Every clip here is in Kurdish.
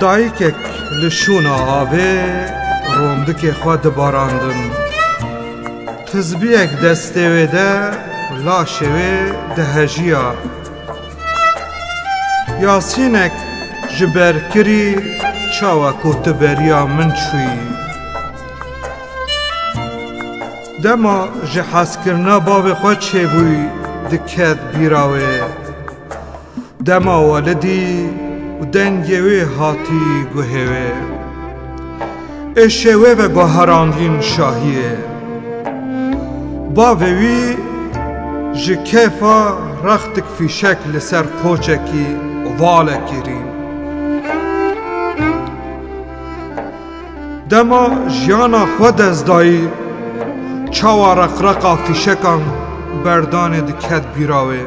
Dayikek li şûna avê rondikê xwe dibarandin. Tizbiyek destê wê de laşê wê dihejiya. Yasînek ji ber kirî çawa ku tu beriya min çûyî. Dema ji hezkirina bavê xwe çêbûy diket bîra wê. Dema welidî û dengê wê hatî guhê wê. Êşê wê ve guherandîn şahiyê. Bavê wî ji kêfa rextik fîşek li ser qoçekî ovalekî rîn. Dema jiyana xwe dest dayî, çawa reqreqa fîşekan berdanê diket bîra wê.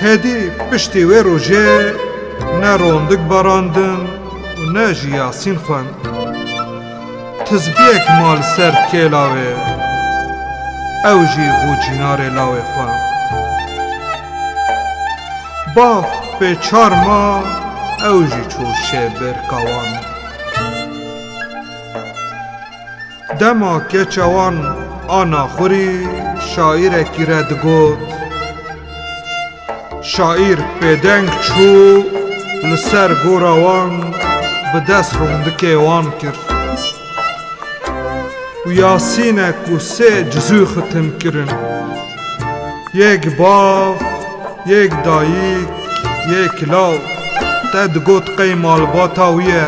Hêdî piştî wê rojê ne rondik barandin û ne jî yasîn xwend. Tizgiyek ma li ser kê lawê. Ew jî bû cînarê lawê xwe. Bav pê çar ma ew jî çû şê bêrka wan. Dema keça wan a naxurî şaîrekî re digot, Şaîr bêdeng çû li ser gora wan bi dest rondikê wan kir û yasînek û sê cizû xitim kirin, yek bav, yek dayîk, yek law te digot qey malbata wî ye.